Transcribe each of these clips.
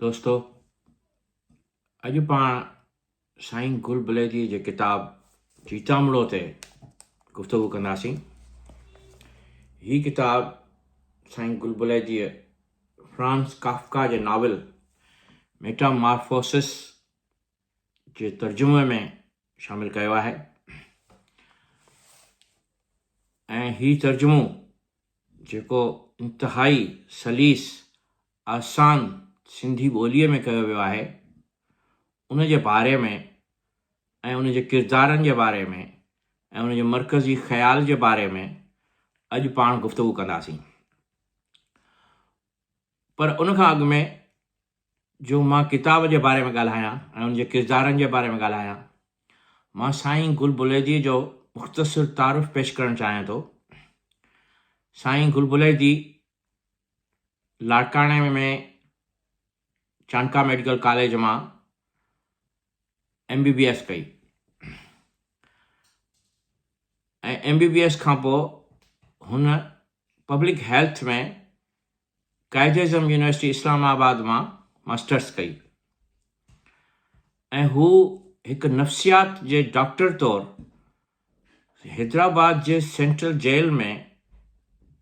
دوستو اڄ پاڻ سائين گل بليدي جي ڪتاب جيتامڙو تي گفتگو ڪنداسين هي ڪتاب سائين گل بليدي فرانس ڪافڪا جي ناول ميٽا مارفوسس جي ترجمي ۾ شامل ڪيو آهي ۽ هي ترجمو جيڪو انتهائي سليس، آسان سنڌي ٻوليء ۾ ڪيو ويو آهي، ان جي باري ۾ ۽ ان جي ڪردارن جي باري ۾ ۽ ان جي مرڪزي خيال جي باري ۾ اڄ پاڻ گفتگو ڪنداسين. پر ان کان اڳ ۾ جو مان ڪتاب جي باري ۾ ڳالهايان ۽ ان جي ڪردارن جي باري ۾ ڳالهايان. مان سائين گل بليديء جو مختصر تعارف پيش ڪرڻ چاهيان ٿو. سائين گل بليدي لاڙڪاڻي ۾ چانڪا ميڊيڪل ڪاليج مان ايم بي بي ايس ڪئي ۽ ايم بي بي ايس کانپوء هن public health ۾ Quaid e Azam university Islamabad مان ماسٽرس ڪئي ۽ هو هڪ نفسيات جي ڊاڪٽر طور حيدرآباد جي سينٽرل جيل ۾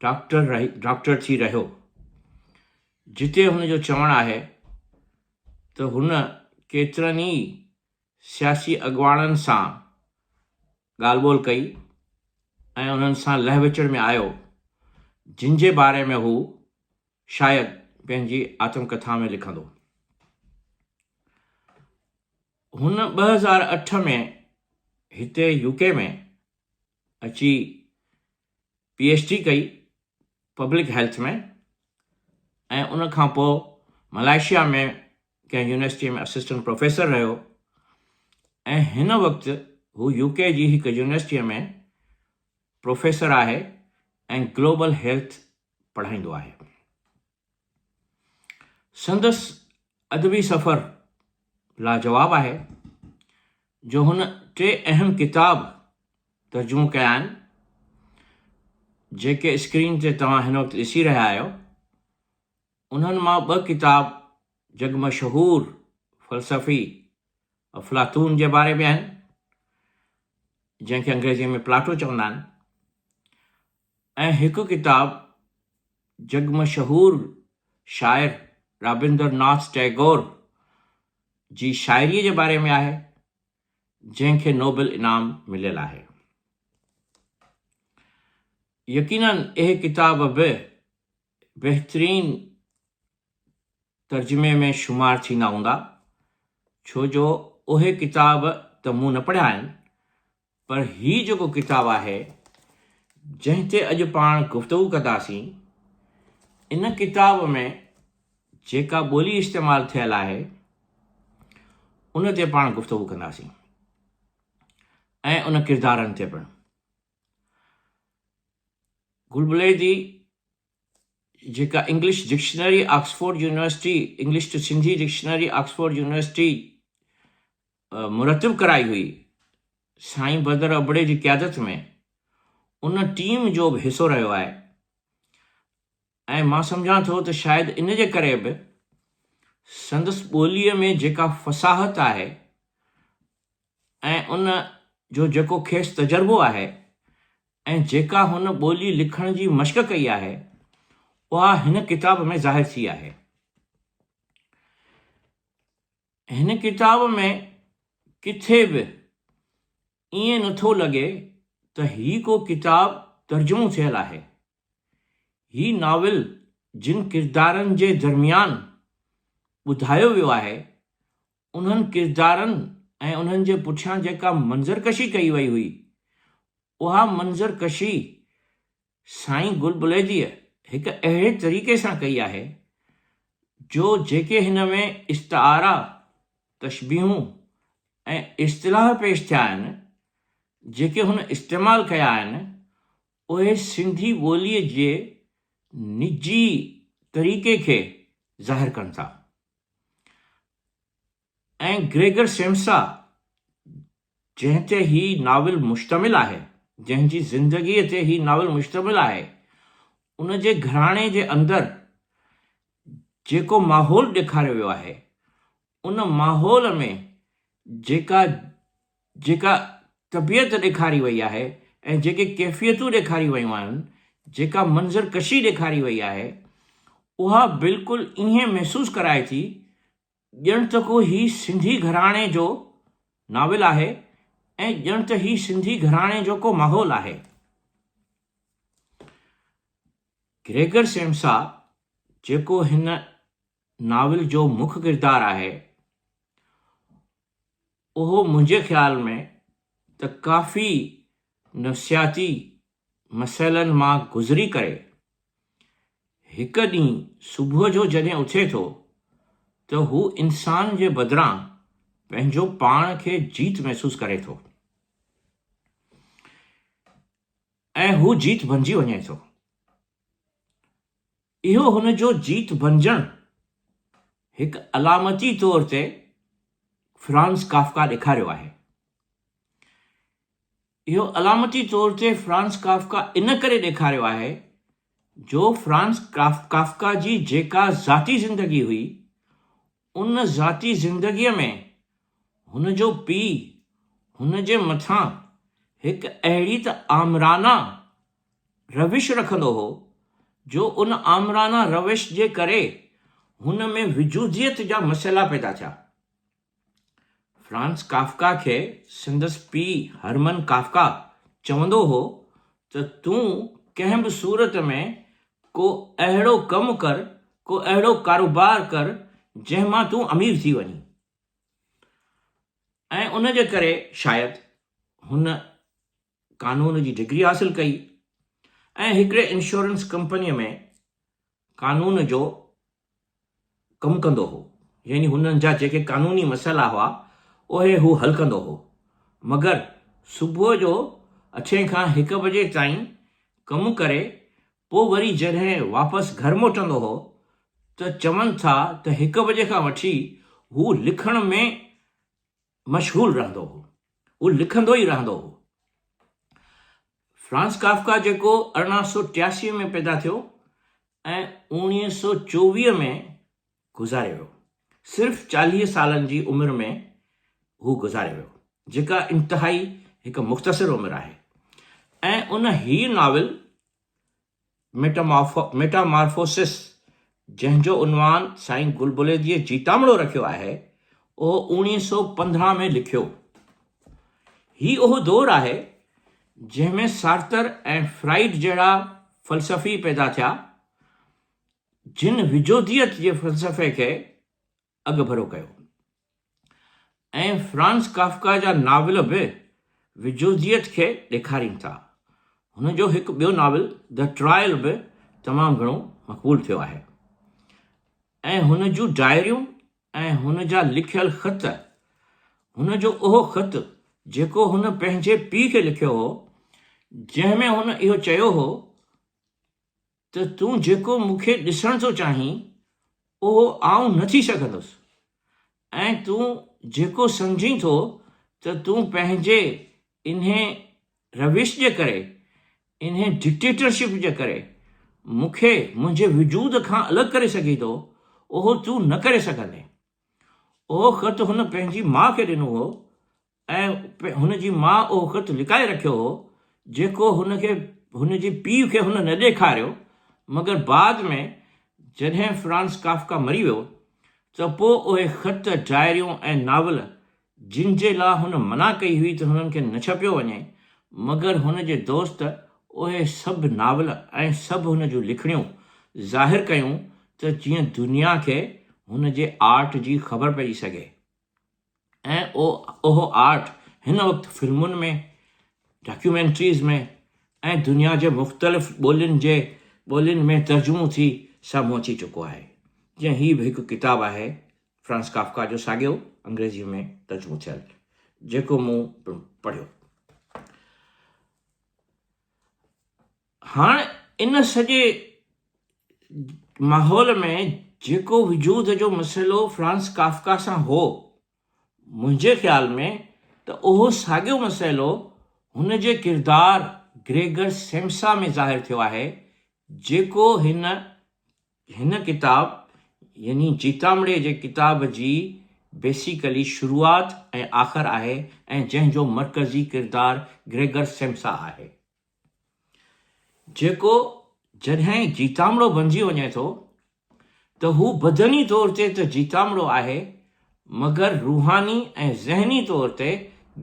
ڊاڪٽر رهي ڊاڪٽر ٿي رهيو جتي هن جو چوڻ آهي ته هن ڪيترن ئي سياسي اڳواڻن سان ڳالهه ٻولهه ڪئي ۽ انهن سان لهه وچڙ ۾ آيو، جن جي باري ۾ هو شايد پنهنجي آتم ڪٿا ۾ لکندو. هن ٻه هزار اٺ ۾ هتي يوڪي ۾ اچي پي ايڇ ڊي ڪئي پبلڪ هيلٿ ۾ ۽ ان کان پوء ملائيشيا ۾ ڪنهن يونيورسٽيء ۾ اسسٽنٽ پروفيسر رهيو ۽ هن وقت هو يو ڪي جي هڪ يونيورسٽيء ۾ پروفيسر آهي ۽ گلوبل هيلٿ پڙهائيندو آهي. سندس ادبي سفر لاجواب آهي جو هن ٽي اهم ڪتاب ترجمو ڪيا آهن جيڪي اسڪرين تي توهان هن وقت ڏسي رهيا آهيو انهن مان ٻه ڪتاب جڳ مشهور فلسفي افلاطون جي باري ۾ آهن جنهن کي انگريزيء ۾ پلاٽو چوندا آهن ۽ هڪ ڪتاب جڳ مشهور شاعر رابندر ناٿ ٽئگور جي شاعريء جي باري ۾ آهي، جنهن کي نوبل انعام مليل آهي. يقينن اهي ڪتاب به بهترين ترجمي ۾ شمار ٿيندا هوندا، ڇو جو اهي ڪتاب ته مون نه پڙهيا آهن، پر هي جيڪو ڪتاب آهي، جنهن تي اڄ پاڻ گفتگو ڪنداسين، ان ڪتاب ۾ جيڪا ٻولي استعمال ٿيل آهي، ان تي پاڻ گفتگو ڪنداسين ۽ ان ڪردارن تي پڻ. گل بليدي جيڪا English dictionary Oxford university English to Sindhi dictionary Oxford university مرتب ڪرائي هئي، سائين بدر ابڙي جي قيادت ۾ ان ٽيم جو به حصو رهيو آهي ۽ مان سمجهان ٿو ته شايد ان جي ڪري به سندس ٻوليء ۾ جيڪا فصاحت آهي ۽ ان جو جيڪو کيس تجربو آهي ۽ جيڪا هن ٻولي لکڻ جي مشق ڪئي آهي، اها هن ڪتاب ۾ ظاهر ٿي آهي. هن ڪتاب ۾ ڪٿي به ائين نه ٿو لڳي ته هي ڪو ڪتاب ترجمو ٿيل آهي. هي ناول جن ڪردارن جي درميان ٻڌايو ويو آهي، انهن ڪردارن ۽ انهن جي پٺيان جيڪا منظر ڪشي ڪئي وئي هئي، اها منظر ڪشي سائين گل بليديء هڪ اهڙي طريقي سان ڪئي آهي، جو جيڪي هن ۾ استعارا، تشبيهون ۽ اصطلاح پيش ٿيا آهن، جيڪي هن استعمال ڪيا آهن، اهي سنڌي ٻوليء جي نجي طريقي کي ظاهر ڪن ٿا. ۽ گريگر سيمسا جنهن تي هي ناول مشتمل آهي، جنهن جي زندگيء تي هي ناول مشتمل آهي، ان جي گهراڻي جي اندر جيڪو ماحول ڏيکاريو ويو آهي، ان ماحول ۾ جيڪا جيڪا طبيعت ڏيکاري وئي آهي ۽ جيڪي ڪيفيتون ڏيکاريون ويون آهن، جيڪا منظر ڪشي ڏيکاري وئي آهي، اها بلڪل ائين محسوس ڪرائي ٿي ڄڻ ته ڪو هي سنڌي گهراڻي جو ناول آهي ۽ ڄڻ ته هي سنڌي گهراڻي جو ڪو ماحول آهي. گريگر سيمسا جيڪو هن ناول جو مک ڪردار آهي، اهو منهنجي خيال ۾ ته ڪافي نفسياتي مسئلن مان گذري ڪري هڪ ڏينهن صبح جو جڏهن اٿي ٿو ته هو انسان جي بدران پنهنجو پاڻ کي جيت محسوس ڪري ٿو ۽ هو جيت بنجي وڃي ٿو. اهو هن جو جيت بنجڻ هڪ علامتي طور تي فرانز ڪافڪا ڏيکاريو آهي. اهو علامتي طور تي فرانز ڪافڪا ان ڪري ڏيکاريو آهي جو فرانز ڪافڪا جي جيڪا ذاتي زندگي هئي، ان ذاتي زندگيء ۾ هن جو پيء هن جي مٿان هڪ اهڙي ته آمرانه روش رکندو هو جو ان آمرانه روش جي ڪري هن ۾ وجوديت جا مسئلا پيدا ٿيا. فرانز ڪافڪا کي سندس پيء هرمن ڪافڪا چوندو هو ته تون ڪنهن به صورت ۾ ڪو اهڙو ڪم ڪر، ڪو اهڙو ڪاروبار ڪر جنهن مان تون امير ٿي وڃين. ۽ ان جي ڪري شايد هن قانون جي ڊگري حاصل ڪئي ۽ هڪڙي انشورنس ڪمپنيء ۾ قانون جو ڪم ڪندو هو يعني هنن جا جيڪي قانوني مسئلا هئا اهي هو حل ڪندو هو مگر صبح جو اٺين کان هڪ بجي تائين ڪم ڪري پوء وري جڏهن واپس گهر موٽندو هو ته چون ٿا ته هڪ بجي کان وٺي هو لکڻ ۾ مشغول رهندو هو. هو لکندو ئي رهندو هو. فرانز ڪافڪا جيڪو ارڙهن سؤ ٽياسي ۾ پيدا ٿيو ۽ اوڻيهه سؤ چوويهه ۾ گذاري ويو، صرف چاليهه سالن جي عمر ۾ هو گذاري ويو، جيڪا انتهائي هڪ مختصر عمر آهي ۽ ان هي ناول ميٽامارفوسس جنهن جو عنوان سائين گل بليديء جيتامڙو رکيو آهي، اهو اوڻيهه سؤ پندرهن ۾ لکيو. هي اهو دور آهي، جنهن ۾ سارتر ۽ فرائيڊ جهڙا فلسفي پيدا ٿيا، جن وجوديت جي فلسفي کي اڳڀرو ڪيو ۽ فرانز ڪافڪا جا ناول به وجوديت کي ڏيکارين ٿا. هن جو هڪ ٻيو ناول The Trial به تمام گهڻو مقبول ٿيو آهي ۽ هن جون ڊائريون ۽ هن جا لکيل خط، هن جو اهو خط جيڪو هن پنهنجي پيء کي لکيو هو، جنهن ۾ هن اهو چيو هو ته تون جيڪو مون کي ڏسڻ ٿو چاهين، اهو آئون نه ٿي سگهندس، ۽ تون جيڪو سمجهين ٿو ته تون پنهنجي انهي روش جي ڪري، انهي ڊڪٽيٽرشپ جي ڪري مون کي منهنجي وجود کان الڳ ڪري سگهين ٿو، اهو تون نه ڪري سگهندين. اهو خط هن پنهنجي ماء کي ڏنو هو، ۽ هن جي ماء اهو خط لڪائي رکيو هو، جيڪو هن کي هن جي پيء کي هن نه ڏيکاريو، مگر بعد ۾ جڏهن فرانز ڪافڪا مري ويو، ته پوء اهي خط، ڊائريون ۽ ناول، جن جي لاء هن منع ڪئي هئي ته هنن کي نه ڇپيو وڃي، مگر هن جي دوست اهي سڀ ناول ۽ سڀ هن جون لکڻيون ظاهر ڪيون ته جيئن دنيا کي هن جي آرٽ جي خبر پئجي سگهي. ۽ اهو آرٽ هن وقت فلمن ۾، ڊاڪيومينٽريز ۾ ۽ دنيا جي مختلف ٻولين جي ٻولين ۾ ترجمو ٿي سامهون اچي چڪو آهي. جيئن هي به هڪ ڪتاب آهي فرانز ڪافڪا جو ساڳيو انگريزيء ۾ ترجمو ٿيل جيڪو مون پڻ پڙهيو. هاڻ ان سڄي ماحول ۾ جيڪو وجود جو مسئلو فرانز ڪافڪا سان هو، منهنجي خيال ۾ ته اهو ساڳيو مسئلو هن جي ڪردار گريگر سيمسا ۾ ظاهر ٿيو آهي، جيڪو هن هن ڪتاب يعني جيتامڙي جي ڪتاب جي بيسيڪلي شروعات ۽ آخر آهي ۽ جنهن جو مرڪزي ڪردار گريگر سيمسا آهي. جيڪو جڏهن جيتامڙو بنجي وڃي ٿو ته هو بدني طور تي ته جيتامڙو آهي مگر روحاني ۽ ذهني طور تي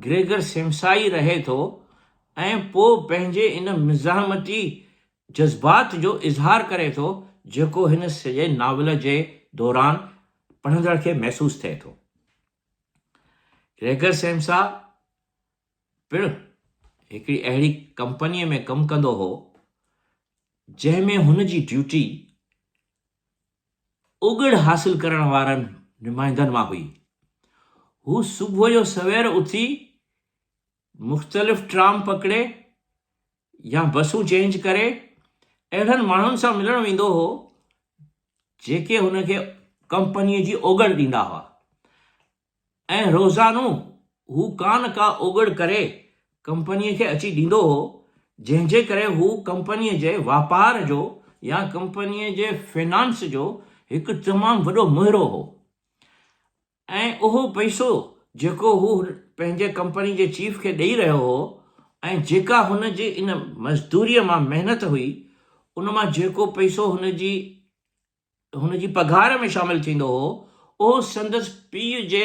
گريگر سيمسا ئي رهي ٿو ۽ پوء پنهنجي ان مزاحمتي جذبات جو اظهار ڪري ٿو جيڪو هن سڄي ناول جي دوران پڙهندڙ کي محسوس ٿئي ٿو. گريگر سيمسا پڻ هڪڙي اهڙي ڪمپنيء ۾ ڪم ڪندو هو، جنهن ۾ هن جي ڊيوٽي اوڳڙ حاصل ڪرڻ وارن نمائندن مان هئي. هو صبح جو سوير اٿي مختلف ٽرام پڪڙي يا بسون چينج ڪري اهڙن ماڻهن سان ملڻ ويندو هو، جيڪي هن کي ڪمپنيء جي اوڳڙ ڏيندا هئا. ۽ روزانو هو ڪا نه ڪا اوڳڙ ڪري ڪمپنيء کي اچي ڏيندو هو، جنهن جي ڪري هو ڪمپنيء جي واپار جو يا ڪمپنيء جي فنانس جو هڪ تمام وڏو مهرو هو ۽ اهو پئسو جيڪو هو پنهنجي ڪمپني جي چيف کي ڏئي رهيو هو ۽ جيڪا هن جي ان مزدوريء مان محنت هئي، ان مان جيڪو پئسو هن جي هن جي پگهار ۾ شامل ٿيندو هو، اهو سندس پيء جي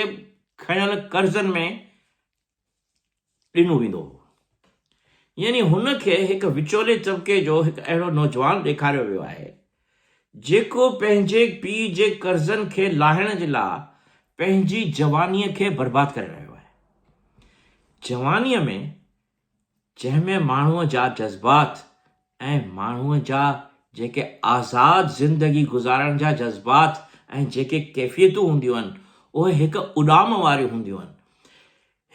کنيل قرضن ۾ ڏنو ويندو هو. يعني هن کي هڪ وچولي طبقي جو هڪ اهڙو نوجوان ڏيکاريو ويو آهي، جيڪو پنهنجي پيء جي قرضن کي لاهڻ جي لاء پنهنجي جوانيء کي برباد ڪري رهيو آهي. جوانيء ۾ جنهن ۾ ماڻهوء جا جذبات ۽ ماڻهوء جا جيڪي آزاد زندگي گذارڻ جا جذبات ۽ جيڪي ڪيفيتون هونديون آهن، اهي هڪ اڏام واريون هونديون آهن،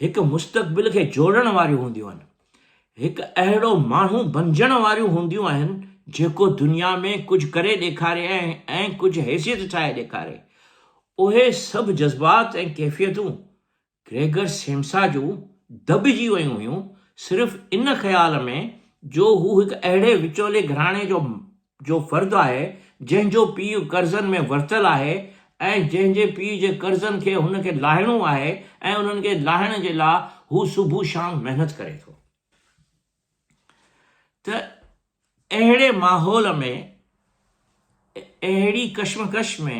هڪ مستقبل کي جوڙڻ واريون هونديون آهن، هڪ اهڙو ماڻهو بنجڻ واريون هونديون آهن، جيڪو دنيا ۾ ڪجهه ڪري ڏيکاري ۽ ڪجهه حيثيت ٺاهي ڏيکاري. اهي سڀ جذبات ۽ ڪيفيتون گريگر سيمسا جون دٻجي ويون هيون صرف ان خيال ۾ جو هو هڪ اهڙي وچولي گهراڻي جو جو فرد آهي جنهن جو پيء قرضن ۾ ورتل آهي ۽ جنهن جي پيء جي قرضن کي هن کي لاهڻو آهي ۽ انهن کي لاهڻ جي لا هو صبح شام محنت ڪري ٿو. ته اهڙي ماحول ۾ اهڙي ڪشمڪش ۾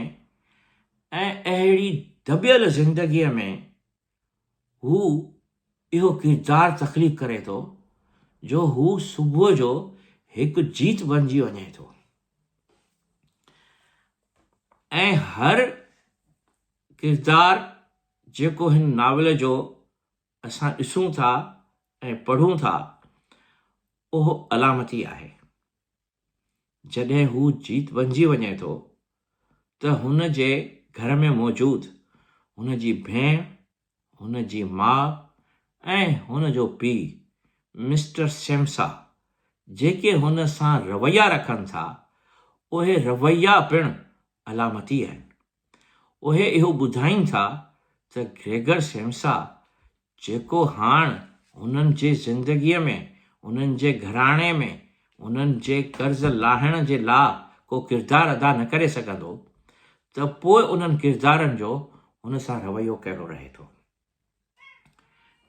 ۽ اهڙي دٻيل زندگيء ۾ هو اهو ڪردار تخليق ڪري ٿو جو هو صبح جو هڪ جيت بنجي وڃي ٿو ۽ هر ڪردار جيڪو هن ناول جو اسان ڏسون ٿا ۽ پڙهون ٿا اهو علامتي آهي جڏهن هو جيت بنجي وڃي ٿو ته هن جي گهر ۾ موجود هن جي ڀيڻ هن جي ماء ۽ هن جو پي مسٽر سيمسا جيڪي هن سان رويا رکن ٿا اهي رويا پڻ علامتي آهن اهي اهو ٻڌائين ٿا ته گريگر سيمسا جيڪو هاڻ هنن جي زندگيء ۾ هنن جي گهراڻي ۾ هنن جي قرض لاهڻ جي لا ڪو ڪردار ادا نه ڪري سگهندو ته پوء انهن ڪردارن جو هن سان رويو ڪهڙو رهي ٿو؟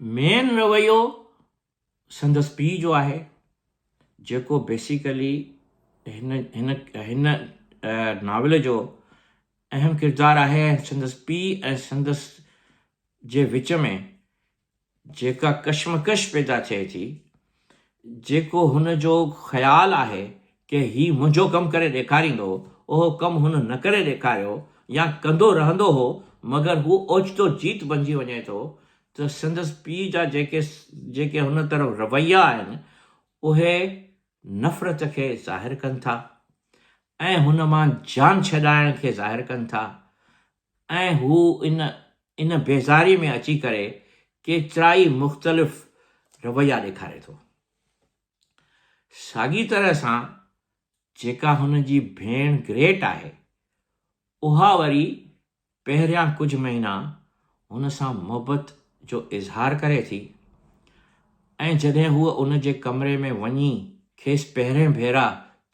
مين رويو سندس پيء جو آهي جيڪو بيسيڪلي هن هن هن ناول جو اهم ڪردار آهي ۽ سندس پيء ۽ سندس جي وچ ۾ جيڪا ڪشمڪش پيدا ٿئي ٿي جيڪو هن جو خيال آهي ڪي هي منهنجو ڪم ڪري ڏيکاريندو اهو ڪم هن نه ڪري ڏيکاريو يا ڪندو رهندو هو مگر هو اوچتو جيت بنجي وڃي ٿو ته سندس پيء جا جيڪي جيڪي هن طرف رويا آهن اهي نفرت کي ظاهر ڪن ٿا ۽ هن مان جان ڇڏائڻ کي ظاهر ڪن ٿا ۽ هو ان ان بيزاري ۾ اچي ڪري ڪيترائي مختلف رويا ڏيکاري ٿو. ساڳي طرح سان جيڪا هن جي ڀيڻ گريٽ آهي اها وري پهريان ڪجهه مهينا هن سان محبت جو اظهار ڪري ٿي ۽ جڏهن هوء ان جي ڪمري ۾ وڃي کيس پهرين ڀيرا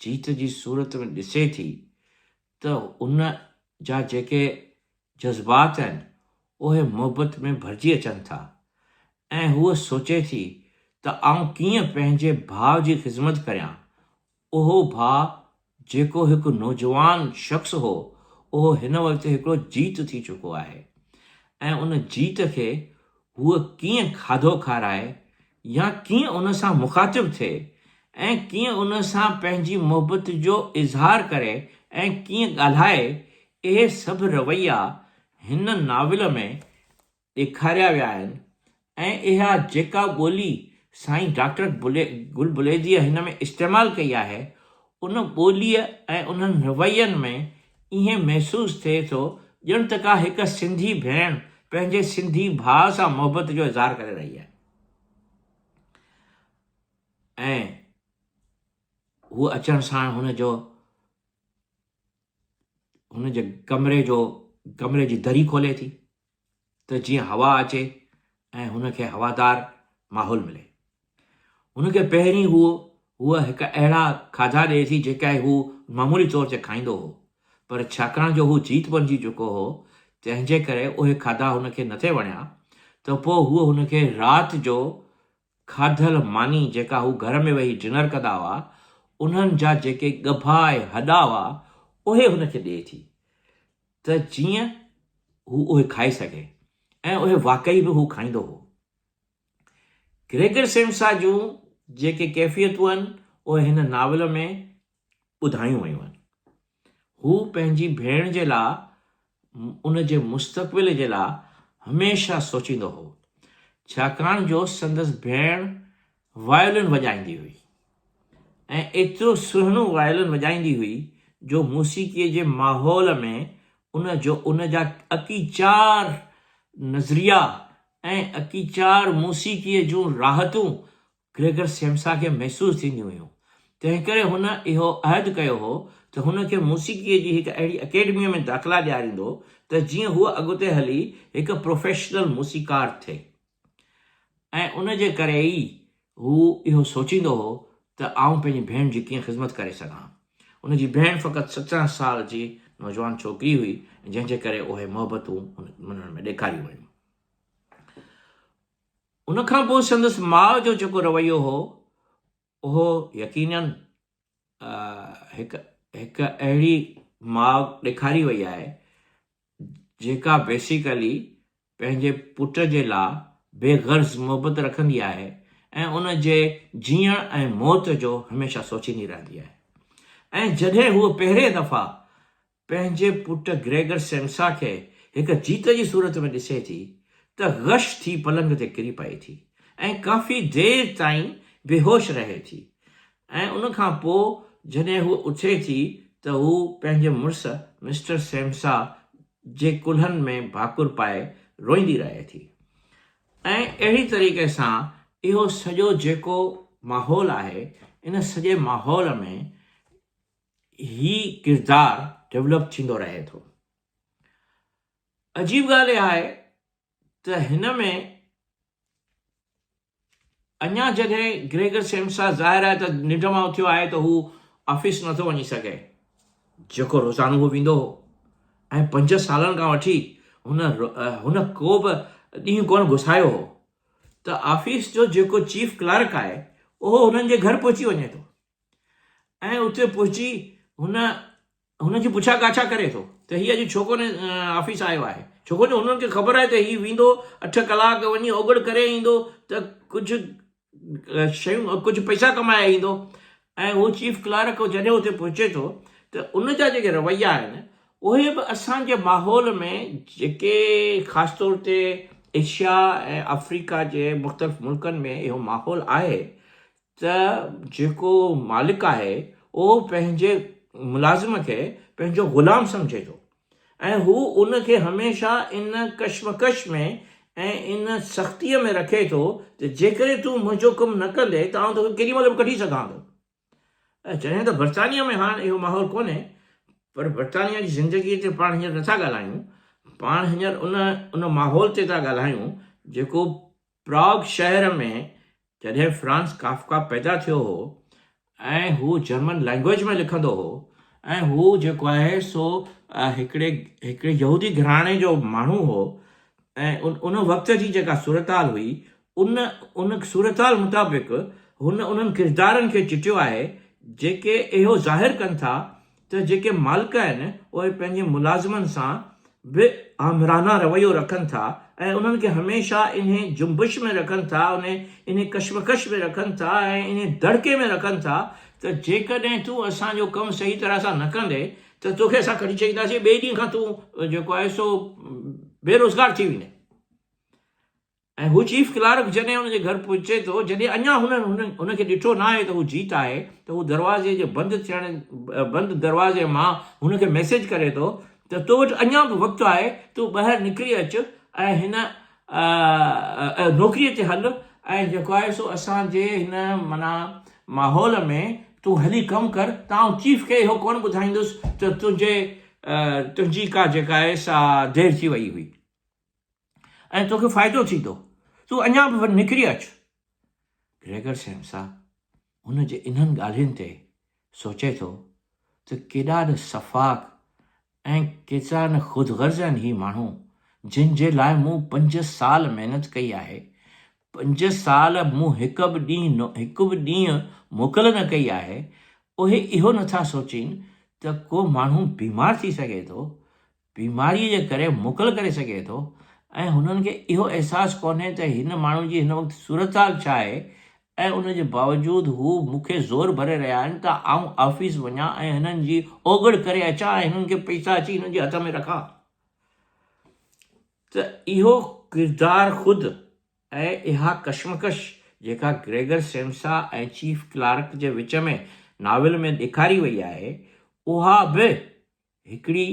جيت جي صورت ۾ ڏسي ٿي ته هن جا جيڪي جذبات آهن اهي محبت ۾ ڀرجي اچن ٿا ۽ هوء سوچي ٿي ته آئون ڪيئن پنهنجي ڀاء جي خذمت ڪريان اهو ڀاء جيڪو هڪ نوجوان شخص هو اهو هن وقت هڪڙو جيت ٿي چڪو آهي ۽ ان جيت کي هوء ڪيئن کاڌو کارائي يا ڪيئن ان سان مخاطب ٿئي ۽ ڪيئن ان سان پنهنجي محبت جو اظهار ڪري ۽ ڪيئن ڳالهائي اهي سڀ رويا هن ناول ۾ ڏيکاريا ويا آهن ۽ اها جيڪا ٻولي سائين ڊاڪٽر گل بليديء هن ۾ استعمال ڪئي آهي، ان ٻوليء ۽ انهن روين ۾ ائين محسوس ٿئي ٿو ڄڻ ته ڪا هڪ سنڌي ڀيڻ پنهنجي سنڌي ڀاء سان محبت جو اظهار ڪري رهي آهي ۽ هو اچڻ ساڻ هن جو هن جي ڪمري جو ڪمري جي دري کولي ٿي ته جيئن هوا اچي ۽ هن کي هوادار ماحول ملي. هن کي پهرين هو هوء هڪ اهڙا کاڌا ڏئي ٿي جيڪي هو معمولي طور تي کائيندو هو پر ڇاڪاڻ جو هو جيت بڻجي چڪو هو تنهنجي ڪري اهي کاڌا هن کي نٿي وڻيا ته پوء هوء هن کي رات جو کاڌل ماني جيڪا هو گهر ۾ ويهي ڊنر ڪندا هئا، انهن جا جيڪي ڳڀا ۽ هڏا هئا، اهي هن کي ڏئي ٿي ته جيئن هو اهي کائي سگهي ۽ اهي واقعي به هو کائيندو هو. گريگر سيمسا جون جيڪي ڪيفيتون آهن، اهي هن ناول ۾ ٻڌايون ويون آهن. هو پنهنجي ڀيڻ جي لاء ان جي مستقبل جي لاء هميشه سوچيندو هو، ڇاڪاڻ جو سندس ڀيڻ وايولن وڄائيندي هئي ۽ ايترو سهڻو وايولن وڄائيندي هئي جو موسيقي جي ماحول ۾ ان جو ان جا اڪيچار نظريا ۽ اڪيچار موسيقي جون راحتون گريگر سيمسا کي محسوس ٿينديون هيون، تنهنڪري هن اهو عهد ڪيو هو ته هن کي موسيقيء جي هڪ اهڙي اڪيڊميء ۾ داخلا ڏياريندو ته جيئن هوء اڳتي هلي هڪ پروفيشنل موسيقار ٿئي ۽ ان جي ڪري ئي هو اهو سوچيندو هو ته آئون پنهنجي ڀيڻ جي ڪيئن خذمت ڪري سگهان. ان جي ڀيڻ فقط سترهن سال جي نوجوان ڇوڪري هئي، جنهن جي ڪري اهي محبتون هن ۾ ڏيکاريون ويون. ان کان پوء سندس ماء جو جيڪو رويو هو، اهو يقينن هڪ هڪ اهڙي ماء ڏيکاري وئي آهي، جيڪا بيسيڪلي پنهنجي پٽ جي لا بي غرض محبت رکندي آهي ۽ ان جي جيئڻ ۽ موت جو هميشه سوچيندي رهندي آهي ۽ جڏهن هوء پهرين دفعا پنهنجي پٽ گريگر سيمسا کي هڪ جيت جي صورت ۾ ڏسي ٿي ته غش ٿي پلنگ تي ڪري پئي ٿي ۽ ڪافي دير تائين بيهوش رهي ٿي ۽ ان کان پوء جڏهن هوء اٿي ٿي ته هو پنهنجي مڙس مسٽر سيمسا جي ڪلهن ۾ ڀاڪر پائي روئيندي رهي ٿي ۽ اهڙي طريقي سان اهو سڄو جيڪو ماحول آهي ان سڄي ماحول ۾ هي ڪردار ڊولپ ٿيندو رهي ٿو. عجيب ڳالهه اها آهي ته هن ۾ اڃا جڏهن گريگر سيمسا ظاهر آهي ته ننڊ مان اٿيو آهي ته هو آفيس نٿو وڃي سگهي جيڪو روزانو هو ويندو هو ۽ پنج سالن کان وٺي هن هن ڪو به ڏينهن ڪونه گسايو هو ته آفيس جو جيڪو چيف ڪلارڪ آهي اهو هنن جي گهر پهچي وڃي ٿو ۽ اتي پهچي هن هن جي پڇا ڳاڇا ڪري ٿو ته هي اڄ ڇو ڪونه آفيس آيو آهي ڇوڪو جو هنن کي خبر آهي ته هي ويندو اٺ ڪلاڪ وڃي اوگڙ ڪري ايندو ته ڪجهه شيون ڪجهه پئسا ڪمائي ايندو ۽ هو چيف ڪلارڪ جڏهن اتي پهچي ٿو ته ان جا جيڪي رويا آهن اهي به اسان جي ماحول ۾ جيڪي خاص طور تي ايشيا ۽ آفريڪا جي مختلف ملڪن ۾ اهو ماحول آهي ته جيڪو مالڪ آهي اهو پنهنجي ملازم کي پنهنجو غلام سمجهي ٿو ۽ هو ان کي هميشه ان ڪشمڪش ۾ ۽ ان سختيء ۾ رکي ٿو ته جيڪڏهن تون منهنجو ڪم نه ڪندين ته آئون توکي ڪيڏي مهل به ڪڍي سگهان ٿو. جڏهن ته برطانيه ۾ هاڻ اهو ماحول ڪونهي پر برطانيه جي زندگيء تي پاڻ هينئر نٿا ڳالهايون، پاڻ هينئر ان ان ماحول تي ٿا ڳالهايون جيڪو پراگ شهر ۾ جڏهن فرانز ڪافڪا پيدا ٿيو هو ۽ هو جرمن لئنگئيج ۾ لکندو هو ۽ هو جيڪو آهي سو هڪڙي هڪڙي يهودي گهراڻي جو ماڻهو هو ۽ ان وقت جي جيڪا صورتحال هئي ان ان صورتحال مطابق هن انهن ڪردارن کي چٽيو آهي جيڪي اهو ظاهر ڪن ٿا ته جيڪي مالڪ آهن اهي پنهنجي ملازمن سان به آمرانه رويو رکن ٿا ۽ انهن کي هميشه انهي جنبش ۾ رکن ٿا انهي انهي ڪشمڪش ۾ رکن ٿا ۽ انهي دڙڪي ۾ رکن ٿا ته جيڪڏهن تون اسان جو ڪم صحيح طرح سان نه ڪندين ته توکي اسان ڪڍي ڇڏينداسين ٻئي ڏينهن کان تون جيڪو آهي سو بيروزگار ٿي ويندين ۽ هو چيف ڪلارڪ جڏهن هن جي گهر پهچي ٿو، جڏهن اڃا هنن هن کي ڏٺو ناهي ته هو جيت آهي ته هو دروازي جي بند ٿيڻ بند دروازي مان هن کي ميسيج ڪري ٿو ته تو وٽ اڃا به وقت آهي تون ٻاهر نڪري اچ ۽ هن نوڪري تي هل ۽ جيڪو آهي سو اسان جي هن معنيٰ ماحول ۾ تون هلي ڪم ڪر ته آئون چيف کي اهو ڪونه ٻڌائيندس ته تنهنجي تنهنجي ڪا جيڪا آهي سا دير ٿي وئي هئي. ۽ توکي فائدو ٿيندو. تون اڃا به نڪري اچ. گريگر سيمسا هن جي انهن ڳالهين تي سوچي ٿو ته ڪيڏا نه سفاڪ ۽ ڪيترا نه خود غرض آهن هي ماڻهو، جن جي لاء مون پنج سال محنت ڪئي آهي. پنج سال مون هڪ به ڏينهن هڪ به ڏينهن موڪل نه ڪئي آهي. اهي اهو نٿا سوچين ته ڪو ماڻهو بيمار ٿي سگهي ٿو بيماريء جي ڪري موڪل ڪري سگهي ٿو ۽ هنن کي اهو احساس ڪونهي ته هن ماڻهو جي هن وقت صورتحال ڇا آهي ۽ ان جي باوجود هو مون کي زور ڀري رهيا آهن ته آئون آفيس وڃان ۽ هنن جي اوگهڙ ڪري اچان ۽ هنن کي پئسا اچي هنن جي هٿ ۾ رکان ته اهو ڪردار خود ۽ اها ڪشمڪش جيڪا گريگر سيمسا ۽ چيف ڪلارڪ جي وچ ۾ ناول ۾ ڏيکاري وئي آهي اها به هڪڙي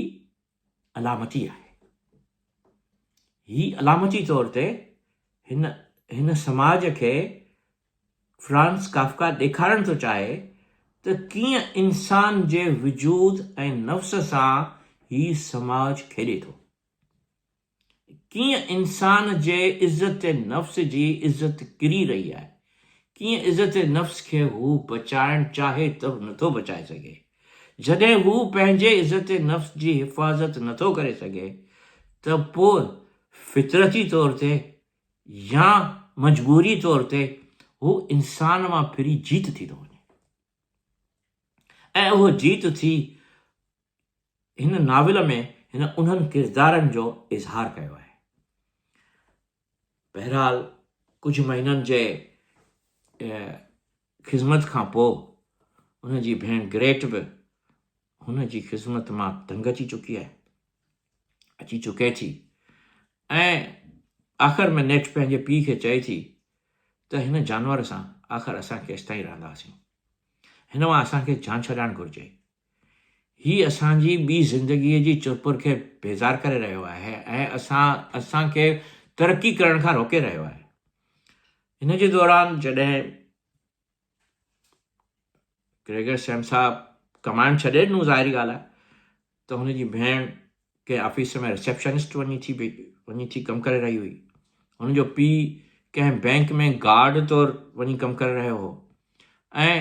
علامتي آهي. هي علامتي طور تي هن هن سماج کي فرانز ڪافڪا ڏيکارڻ ٿو چاهي ته ڪيئن انسان جي وجود ۽ نفس سان هي سماج کيڏي ٿو. ڪيئن انسان جي عزت نفس جي عزت ڪري رهي آهي، ڪيئن عزت نفس کي هو بچائڻ چاهي ته به نٿو بچائي سگهي. جڏهن هو پنهنجي عزت نفس جي حفاظت نٿو ڪري سگهي ته پوء فطرتي طور تي يا مجبوري طور تي هو انسان مان ڦري جيت ٿي ٿو وڃي ۽ اهو جيت ٿي هن ناول ۾ هن انهن ڪردارن جو اظهار ڪيو آهي. بهرحال ڪجهه مهينن جي خدمت کان پوء ان جي ڀيڻ گريٽ به هن جي خدمت مان تنگ اچي چڪي آهي اچي چڪي ٿي ۽ آخر ۾ نيٺ پنهنجي پيء کي چئي ٿي ته هن جانور سان آخر اسان کي ايستائين رهنداسين هن مان اسان کي جان ڇڏائڻ گهرجي هي اسان جي ٻي زندگيء جي چرپر کي بيزار ڪري رهيو آهي ۽ اسان اسان کي ترقي ڪرڻ کان روڪي رهيو آهي. هن جي دوران جڏهن گريگر سيم صاحب ڪمائڻ ڇڏي ڏنو ظاهري ڳالهه آهي ته هن جي ڀيڻ ڪنهن آفيس ۾ رسيپشنسٽ وڃي ٿي وڃي ٿي ڪم ڪري رهي هئي هن جو پيء ڪنهن بئنڪ ۾ گارڊ طور وڃي ڪم ڪري رهيو هو ۽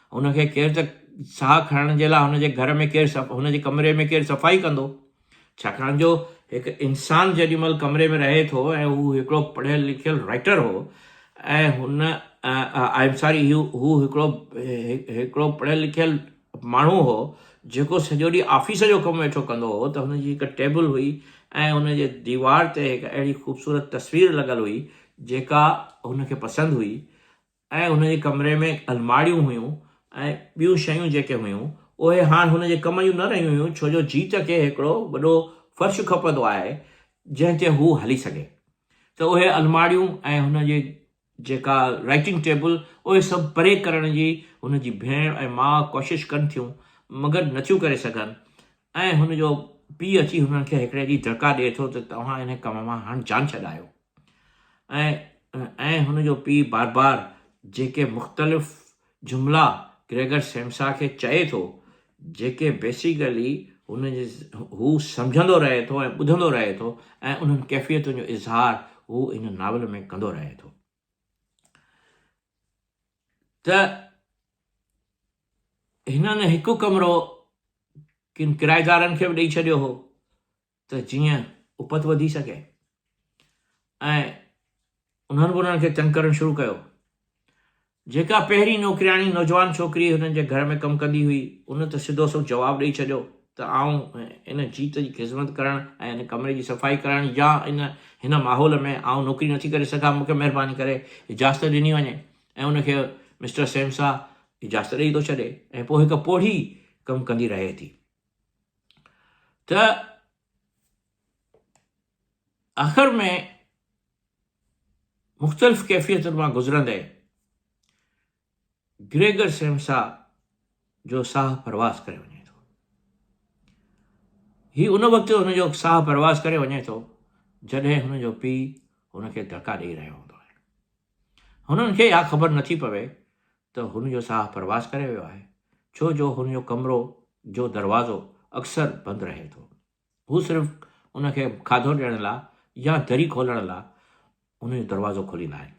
هن کي ڪير ته ساهه کڻڻ جي لاء هن جي گهر ۾ ڪير هن جي ڪمري ۾ ڪير صفائي ڪندو؟ ڇاڪاڻ جو هڪ انسان جيڏي مهل ڪمري ۾ رهي ٿو ۽ هو هڪڙو پڙهيل لکيل رائيٽر هو ۽ هن آء ايم ساري هي هو هڪڙو هڪڙو پڙهيل لکيل ماڻهو هو جيڪو سڄو ڏينهن آفيس جو ڪم ويٺو ڪندو هو ته هن جي هڪ ٽيبل هئي ۽ هن جي ديوار تي هڪ اهڙي خوبصورت تصوير لڳل هئي جيڪا هن کي پسند هئي ۽ هن جي ڪمري ۾ الماڙيون هيون ۽ ٻيون شيون جيڪي هيون اهي هاڻ هن جي ڪم جون نه رهيون هيون ڇو جو جيت کي هڪڙو وڏو فرش کپندو آهي جنهن تي هو هلي سگهي ته اهي الماڙيون ۽ هن جي جيڪا رائيٽنگ ٽيبل اهي سڀ پري ڪرڻ جي هن جي ڀيڻ ۽ ماء ڪوشش ڪن ٿيون مگر نٿيون ڪري سگهن ۽ هن جو پيء اچي هنن کي هڪڙي ڏينهن دڙڪا ڏئي ٿو ته توهان ان ڪم مان هاڻ جان ڇڏايو ۽ هن جو پيء بار بار جيڪي مختلف جملا گريگر سيمسا کي چئي ٿو جيڪي بيسيڪلي هو سمجهندو رهي ٿو ۽ ٻڌندو رهي ٿو ۽ انهن ڪيفيتن جو اظهار هو هن ناول ۾ ڪندو رهي ٿو. ته هنن هڪ ڪمرو ڪن ڪرائيدارن کي به ڏيئي ڇڏيو هو ته جيئن اپت وڌي سگهي ۽ انهن به انهن کي تنگ ڪرڻ شروع ڪيو جيڪا پهرين نوڪرياڻي نوجوان ڇوڪري هنن جي گهر ۾ ڪم ڪندي هئي ان ته سڌو سو جواب ڏيئي ڇڏيو ته آئون ان جيت جي خذمت ڪرڻ ۽ ان ڪمري جي صفائي ڪرڻ يا ان هن ماحول ۾ آئون نوڪري نٿي ڪري سگهان، مون کي مهرباني ڪري اجازت ڏني وڃي ۽ ان کي مسٽر سيمسا اجازت ڏئي ٿو ڇڏي ۽ پوء هڪ پوڙهي ڪم ڪندي رهي ٿي ته آخر ۾ مختلف ڪيفيتن مان گذرندي گريگر سيمسا جو ساهه پرواز ڪري وڃي ٿو. هي ان وقت هن جو ساهه پرواز ڪري وڃي ٿو جڏهن هن جو پيء هن کي ڌڪا ڏيئي رهيو هوندو آهي. هنن کي اها خبر نٿي پوي ته هن جو ساهه پرواز ڪري ويو آهي ڇو جو هن جو ڪمرو جو دروازو اڪثر بند رهي ٿو. هو صرف ان کي کاڌو ڏيڻ لاء يا دري کولڻ لاء ان جو دروازو کوليندا آهن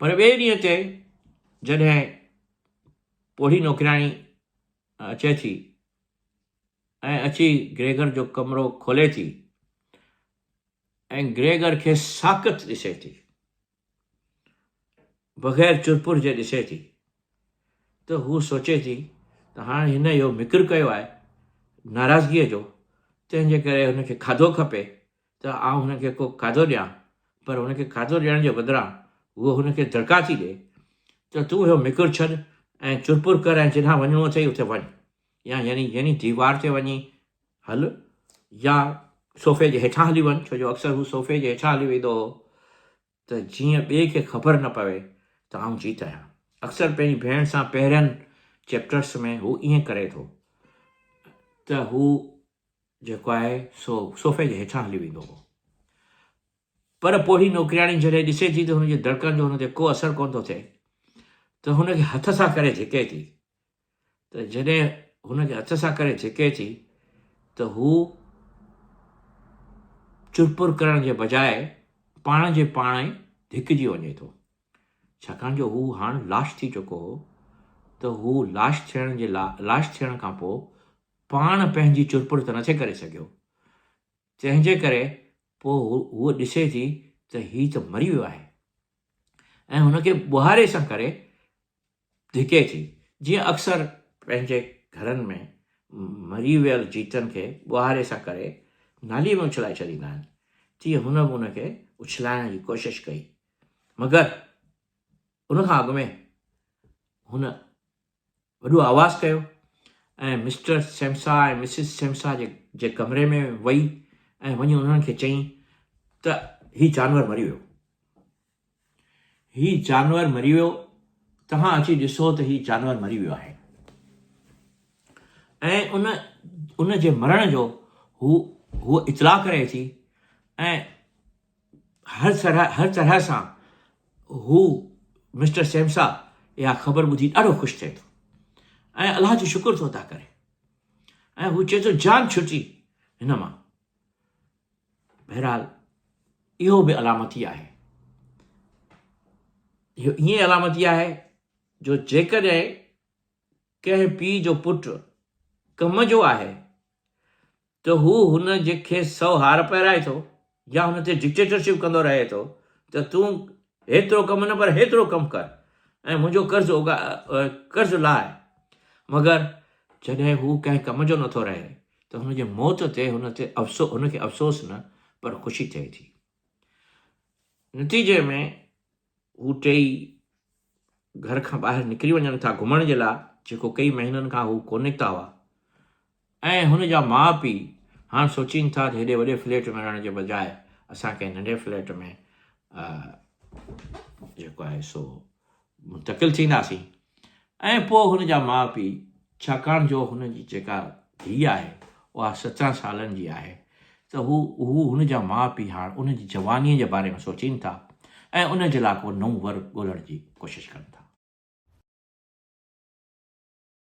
پر ٻئي ڏينهن تي جڏهن پوڙهي نوڪرياڻي اچي ٿي ۽ اچي گريگر جو ڪمرو کولي ٿي ۽ گريگر کي ساڪت ڏسي ٿي بغير چرپر جي ڏسي ٿي ته هوء سوچي ٿي ته هاڻ هن اهو مڪر ڪيو آهي ناراضگيء جو، تنهن جي ڪري هن کي کاڌو کپي ته آئون هن کي ڪو کاڌو ڏيان، پر هن کي کاڌو ڏيڻ جي بدران هوء هن کي دڙڪا ٿي ڏئي ته تون اهو مڪر ڇڏ ۽ چرپر ڪر ۽ جڏهان وڃڻو اٿئي اتي وڃ يا يعني يعني ديوار تي وڃي هل يا صوفي جي هيٺان هلي وڃ، ڇو جو اڪثر هو صوفي جي هيٺان هلي ويندو هو ته جيئن ٻئي کي خبر نه پوي ته آئون جيت آهيان. اڪثر پنهنجي ڀيڻ سان پهرين چيپٽرس ۾ هو ائين ڪري ٿو ته هو جيڪو آهي سو صوفي جي هيٺان هلي ويندو هو. پر پوڙهي نوڪرياڻي جڏهن ڏسي ٿي ته هن جي دڙڪن جو هن تي ڪو اثر ڪونه ٿو ٿئي ته هن کي هٿ سان ڪري ڌڪي ٿي ته جڏهن هن کي هٿ سان ڪري ڇڪي ٿي ته هو چرپر ڪرڻ جي بجاء پاڻ جي پاڻ ئي ڌڪجي وڃي ٿو. ڇاڪاڻ جو هو هاڻ لاش ٿي چڪو هو ته هو لاش ٿيڻ جي لا لاش ٿيڻ کان پوء پاڻ پنهنجي چرپر ته نٿي ڪري سگهيو. تنهن جي ڪري پوء هوء ڏسي ٿي ته هي ته مري ويو آهي ۽ هن کي ٻوهاري سان ڪري ڌڪي ٿي، جيئن اڪثر پنهنجي گهرن ۾ مري ويل جيتن کي ٻوهاري سان ڪري نالي ۾ اڇلائي ڇڏيندا آهن، تيئن هن به ان کي اڇلائڻ جي ڪوشش ڪئي، مگر ان کان اڳ ۾ هن وڏو آواز ڪيو ۽ مسٽر سيمسا ۽ مسز سيمسا جي جي ڪمري ۾ وئي ۽ وڃي انهن کي چئي ته هي جانور مري ويو. هي جانور مري ويو، توهان اچي ڏسو ته هي جانور مري ويو آهي. ۽ ان ان جي مرڻ جو هو هوء اطلاع ڪري ٿي ۽ هر طرح هر طرح سان هو مسٽر سيمسا اها خبر ٻڌي ڏاڍو خوش ٿئي ٿو ۽ الله جو شڪر ٿو ادا ڪري ۽ هو چئي ٿو جان ڇٽي هن مان بهرحال اهو به علامتي آهي اهو ائين علامتي آهي جو جيڪڏهن ڪنهن پيء جو پٽ ڪم جو آهي ته هو هن کي سو هار پهرائي ٿو يا هن تي ڊڪٽيٽرشپ ڪندو رهي ٿو ته تون هيترو ڪم نه پر هيترو ڪم ڪر ۽ منهنجو قرض اوڳا قرض لاء. مگر جڏهن هو ڪنهن ڪم جو نٿو رهي ته هن جي موت تي هن تي افسو هن کي افسوس نه پر خوشي ٿئي ٿي. نتيجي ۾ هو ٽيئي گهر کان ٻاهر نڪري وڃن ٿا گهمڻ جي لاء جيڪو ڪئي مهينن کان هو ڪو نڪتا هئا ۽ هن جا ماء پيء هاڻ سوچين ٿا ته هيڏي وڏي فليٽ ۾ رهڻ جي بجاء اسان ڪنهن ننڍي فليٽ ۾ جيڪو آهي سو منتقل ٿينداسين ۽ پوء هن جا ماء پيء ڇاڪاڻ جو هن جي جيڪا ڌيء آهي اها سترهن سالن جي آهي ته هو هو هن جا ماء پيء هاڻ ان جي جوانيء جي باري ۾ سوچين ٿا ۽ ان جي لاء ڪو نئون ور ڳولڻ جي ڪوشش ڪن ٿا.